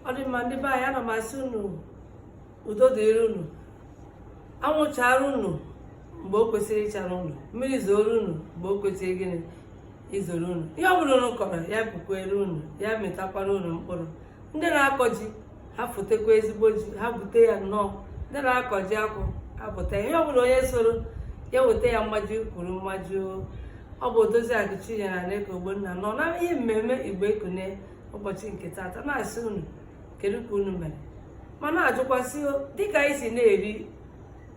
ọ dị mma ndị be anyị ana m asị unu udo dịrị unu anwụ chaara unu mgbe o kwesịrị ịchara unu mmiri zooro unu mgbe o kwesịrị gịnị izoro unu ihe ọ bụla unu kọrọ ya bukwere unu ya mịtakwara unu mkpụrụ ndị na-akọ ji ha fotekwa ezigbo ji ha bute ya nnọọ ndị na-akọ ji akwụ apụta ihe ọ bụla onye soro ya weta ya mmaji kwuru mmaji ọ bụ odozi akụ chinyere aneke ogbonna nọ na ihe mmemme igbo ekunie ụbọchị nke tata na-asị unu kedu ka unu mere ma na-ajụkwa sị dịka anyị si na-eri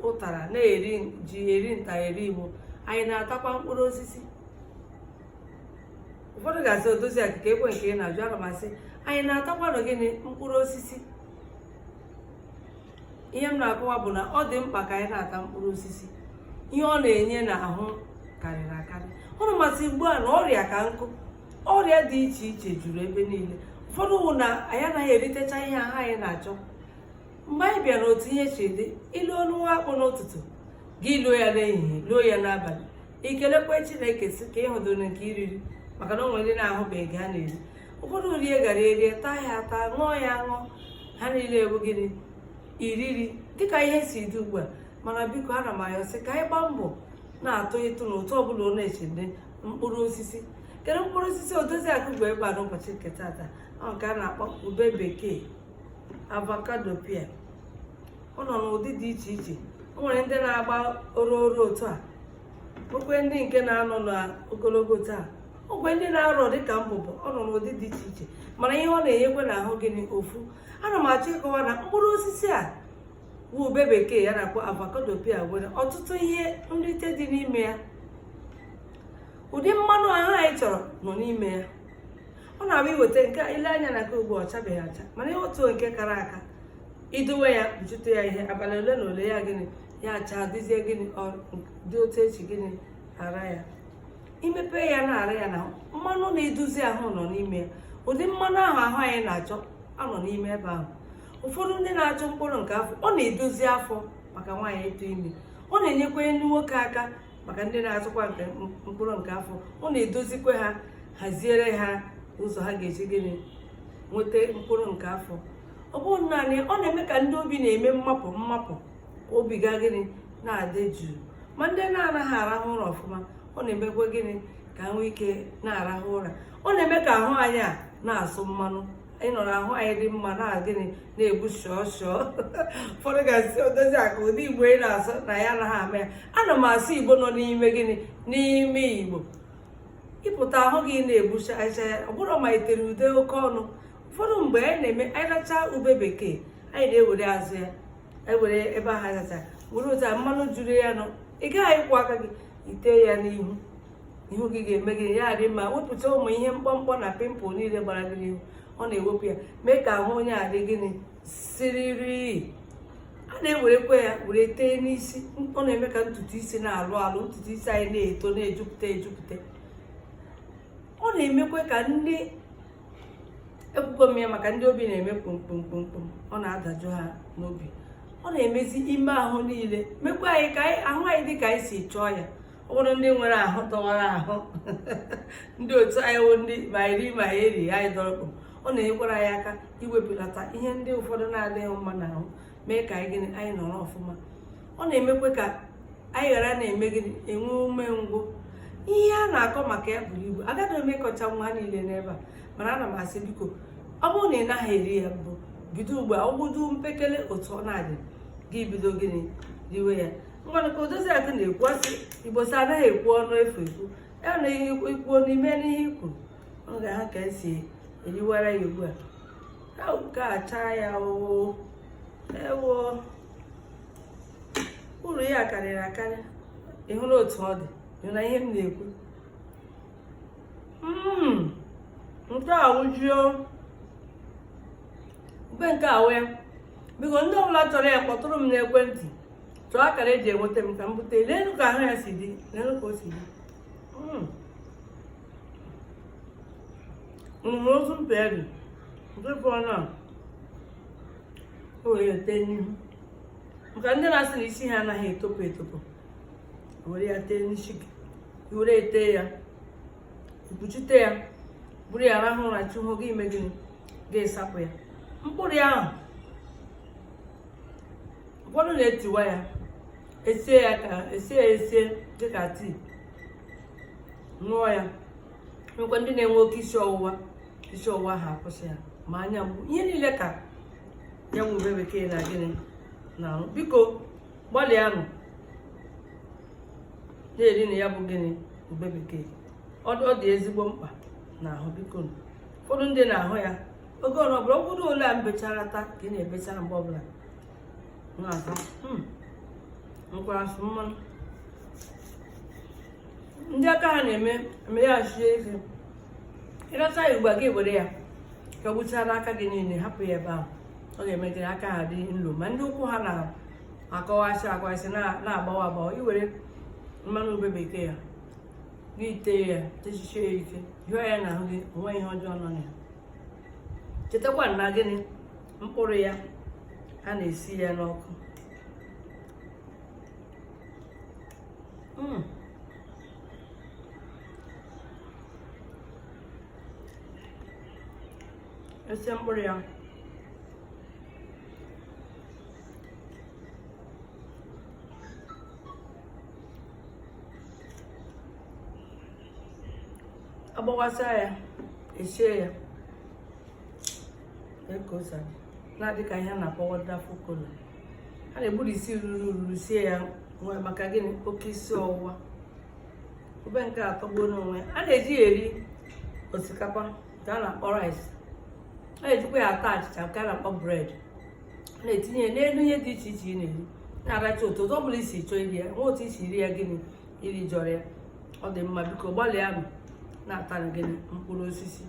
ụtara na-eri ji eri nta eri imo anyị na-atakwa mkpụrụ osisi ụfọdụ ga-asị odozi akụ keekwa nke ị na-ajụ ana m asị anyị na-atakwanụ gịnị mkpụrụ osisi ihe m na-akọwa bụ na ọ dị mkpa ka anyị na-ata mkpụrụ osisi ihe ọ na-enye n'ahụ karịrị akarị unu ma sị ugbu a na ọrịa ka nkụ ọrịa dị iche iche juru ebe niile ụfọdụ wụ na anyị anaghị eritecha ihe ahụ anyị na-achọ mgbe anyị bịara otu ihe si dị i luo ọnụ nwa akpụ n'ụtụtụ gị luo ya n'ehihie luo ya n'abalị i kelekwa chineke sị ka ị hụdụrụ nke i riri maka na o nwe ndị na-ahụbeghị ha na-eri ụfọdụ rie garri erie taa ya ata ṅụọ ya aṅụọ ha niile wụ gịnị iriri dịka ihe si dị ugbu a mana biko ana m ayọ sị ka anyị gbaa mbọ na-atụ ịtụ na ụtụ ọbụla ọ na-eche ndị mkpụrụ osisi kedu mkpụrụ osisi odozi akụ bu bịa n'ụbọchị nke tata ọ nke a na-akpọ ube bekee avocado pear ọ nọ n'ụdị dị iche iche o nwere ndị na-agba oro oro otu a o nwee ndị nke na-anọ n'ogologo otu a o nwee ndị na-arọ dịka mbụbọ ọ nọ n'ụdị dị iche iche mana ihe ọ na-enyekwa n'ahụ gịnị ofu ana m achọ ịkọwa na mkpụrụ osisi a bụ ube bekee ihe a na-akpọ avocado pear nwere ọtụtụ ihe nrite dị n'ime ya ụdị mmanụ ahụ anyị chọrọ nọ n'ime ya ọ na-abụ i weta nke i lee anya na nke ugbu ọ chabeghị acha mana i weta nke kara aka i dowe ya kpuchite ya ihe abalị ole na ole ya gịnị ya acha dịzie gịnị dị otu e si gịnị ara ya i mepe ya na-ara ya na mmanụ na-edozi ahụ nọ n'ime ya ụdị mmanụ ahụ ahụ anyị na-achọ nọ n'ime ebe ahụ ụfọdụ ndị na-achọ mkpụrụ nke afọ ọ na-edozi afọ maka nwaanyị ịtụ ime ọ na-enyekwa ndị nwoke aka maka ndị na-achọkwa nke mkpụrụ nke afọ ọ na-edozikwa ha haziere ha ụzọ ha ga-eji gịnị nweta mkpụrụ nke afọ ọ bụghị naanị ọ na-eme ka ndị obi na-eme mmapụ mmapụ ka obi ha gịnị na-adị jụụ ma ndị na-anaghị arahụ ụra ọfụma ọ na-emekwa gịnị ka ha nwee ike na-arahụ ụra ọ na-eme ka ahụ anyị a na-asụ mmanụ anyị nọ n'ahụ anyị dị mma na gịnị na-egbu shọọ shọọ ụfọdụ ga-asị Odoziakụ ụdị igbo ị na-asụ na ya anaghị ama ya ana m asụ igbo nọ n'ime gịnị n'ime igbo ịpụta ahụ gị na-egbucha acha ya ọ bụrụ ma itere ude oke ọnụ ụfọdụ mgbe anyị na-eme anyị rachaa ube bekee anyị na-ewere azụ ya anyị were ebe ahụ azacha were ụta mmanụ juru ya nọ ị gaghị ịkwọ aka gị itee ya n'ihu ihu gị ga-eme gịnị adị mma wepụta ụmụ ihe mkpọmkpọ na pimpụl niile gbara gị n'ihu ọ na-ewepụ ya mee ka ahụ onye adị gịnị siriri a na-ewerekwa ya were tee n'isi ọ na-eme ka ntutu isi na-alụ alụ ntutu isi anyị na-eto na-ejupụta ejupụta ọ na-emekwa ka ndị ekwugo m ya maka ndị obi na-eme kpomkpomkpomkpom ọ na-adajụ ha n'obi ọ na-emezi ime ahụ niile mekwa anyị ka ahụ anyị dị ka anyị si chọọ ya ọ bụrụ ndị nwere ahụ dọwara ahụ ndị otu anyị wụ ndị ma iri ma eri anyị dọrọkpụ ọ na-enyekwara anyị aka iwepụlata ihe ndị ụfọdụ na-adịghị mma n'ahụ mee ka anyị gịnị anyị nọrọ ọfụma ọ na-emekwa ka anyị ghara na-eme gịnị enwe umengwụ ihe a na-akọ maka ya buru ibu agaghị m ịkọchanwu ha niile n'ebe a mana ana m asị biko ọ bụrụ na ị naghị eri ya mbụ bido ugbu a ọ bụdu mpekele otu ọ na-adị gị bido gịnị riwe ya ngwanụ ka Odoziakụ na-ekwu asị Igbo sị anaghị ekwu ọnụ efu ekwu ya na ihe ikwuo n'ime n'ihe i kwuru ọ ga ha ka esi eriwara ya ugbu a ka achaa ya oo ewo uru ya karịrị akarị ị hụrụ otu ọ dị ị na ihe m na-ekwu hmm, nke a wụjuo ube nke a wee biko ndị ọbụla chọrọ ya kpọtụrụ m n'ekwentị chọọ akara eji enweta m ka m bute leenu ka ahụ ya si dị leenu ka o si dị mgbe ozu mpe dị nke fọrọ a na-ewere ete n'ihu maka ndị na-asị na isi ha anaghị etopụ etopụ were ya tee n'isi gị were ete ya ekpuchite ya buru ya rahụ ụra chi hoo gị eme gịnị gị asapụ ya mkpụrụ ya ahụ ụfọdụ na-etiwa ya esie ya ka esie ya esie dịka tii ṅụọ ya nyekwa ndị na-enwe oke isi ọwụwa isi ọwụwa ha akwụsị ya ma anya mgbu ihe niile ka ya wụ ube bekee na gịnị na-arụ biko gbalịanụ na-erinụ ya bụ gịnị ube bekee ọ dị ezigbo mkpa n'ahụ biko ụfọdụ ndị na-ahụ ya oge ọrụ ọbụla ọ bụrụ ole a m bechara taa ka ị na-ebechara mgbe ọbụla na-ata hmm. nkwara asụ mmanụ ndị aka ha na-eme emeghachi eze ịracha ya ugbu a gị were ya ka ọ gbuchara aka gị niile hapụ ya ebe ahụ ọ ga-eme gị aka ha dị nlo ma ndị ụkwụ ha na-akọwasị akọwasị na-agbawa agbawa i were mmanụ ube bekee ya gị tee ya tesie ya ike hịọ ya n'ahụ gị o nwe ihe ọjọọ nọ na ya chetakwa na gịnị mkpụrụ ya a na-esi ya n'ọkụ hmm. e sie mkpụrụ ya agbawasa ya esie ya because ọ na-adị ka ihe a na-akpọ wonderful kola a na-egburisi ruru ruru sie ya nwee maka gịnị oke isi ọwụwa ube nke a atọgbuo n'onwe ya a na-eji ya eri osikapa nke a na-akpọ rice a na-ejikwa ya ata achịcha nke a na-akpọ bread na-etinye ya n'elu ihe dị iche iche ị na-eri na-aracha ụtọ ụzọ ọbụla i si chọọ iri ya nwe otu i si iri ya gịnị i rijọrọ ya ọ dị mma biko gbalịanụ na-atanụ gịnị mkpụrụ osisi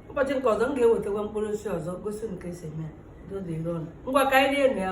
ụbọchị nke ọzọ m ga-ewetakwa mkpụrụ osisi ọzọ gosi ụnụ ka e si eme ya dodero ngwa ka anyị rienụ ya